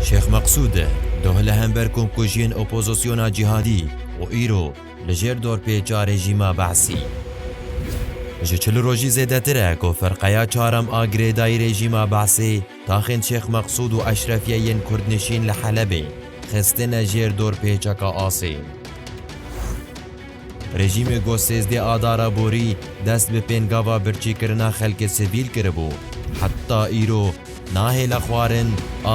Şêx Meqsûd doh li hember komkujiyên opozisyona cîhadî û îro li jêr dorpêça rejîma Be'sî. Ji çil rojî zêdetir e ku firqeya çaram a girêdayî rejîma Be'sê taxên Şêx Meqsûd û eşrefiyê yên kurdnişîn li Helebê xistine jêr dorpêçeka asê. Rejîmê ku sêzdeh Adara borî dest bi pêngava birçîkirina xelkê sivîl kiribû, heta îro nahêle xwarin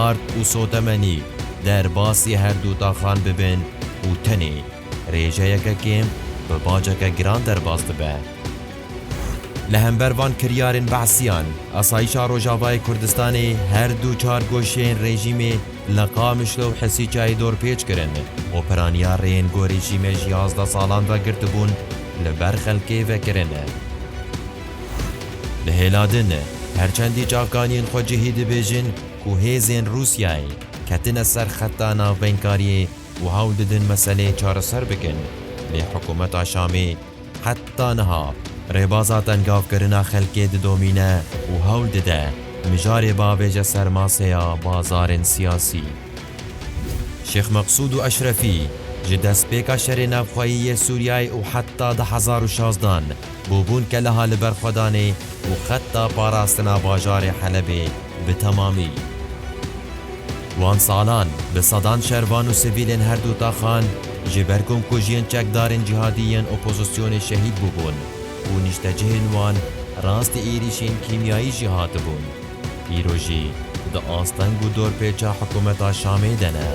ard û sotemenî derbasî herdu taxan bibin û tenê rêjeyeke kêm bi baceke giran derbas dibe. Li hember van kiryarên behsîyan, Asayîşa Rojavayê Kurdistanê herdu çar goşeyên rejîmê, Li Qamişlo û Hesîçayê dorpêç kirin û piraniya rêyên ku rejîmê ji yazdeh salan ve girtibûn li ber xelkê vekirin. Di hêla din, her çendî çavkaniyên xwe cihî dibêjin ku hêzên Rûsyayê ketine ser xeta navbeynkariye û hewl didin meseleyê çareser bikin, lê hikûmeta Şamê, Heta niha rêbaza tengavkirina xelkê didomîne û hewl dide mijarê bavêje ser masêya bazarên siyasî. Şêx Meqsûd û Eşrefî ji destpêka şerê navxweyî yê Sûriyeyê û heta du hezar û şazdan bûbûn keleha liberxwedanê û xeta parastina bajarê Helebê, bi temamî. Wan salan bi sedan şervan û sivîlên her du taxan ji ber komkujiyên çekdarên cîhadî yên opozisyonê şehîd bûbûn û nîştecihên wan rastî êrîşên kîmyayî jî hatibûn. Îro jî di asteng û dorpêça hikûmeta Şamê de ne.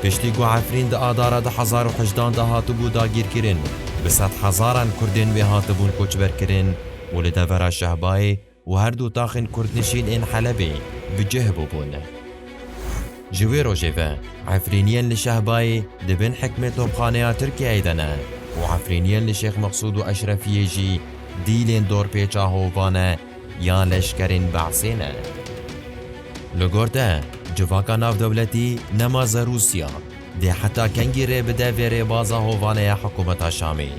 Piştî ku Efrîn di Adara du hezar û hejdan de hatibû dagîrkirin, bi sedhezaran Kurdên wê hatibûn koçberkirin û li devera Şehbayê û her du taxên Kurdnişîn ên Helebê bi cih bûbûn. Ji wê rojê ve Efrîniyên li Şehbayê di bin hikmê topxaneya Tirkiyeyê de ne û Efrîniyên li Şêx Mexsûd û Eşrefiyê jî dîlên dorpêça hovane ya leşkerên Be'sê ne. Li gor te civaka navdewletî nema zer Rûsya dê heta kengî rê bide vê rêbaza hovaneya hikûmeta Şamê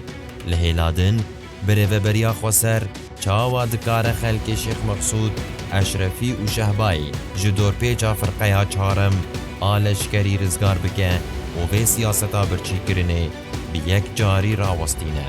li hêladin Bi rêveberiya Xweser çawa dikare xelkê Şêx Meqsûd, Eşrefî û Şehbayê ji dorpêça firqeya çarem a leşkerî rizgar bike û vê siyaseta birçîkirinê bi yek carî rawestîne?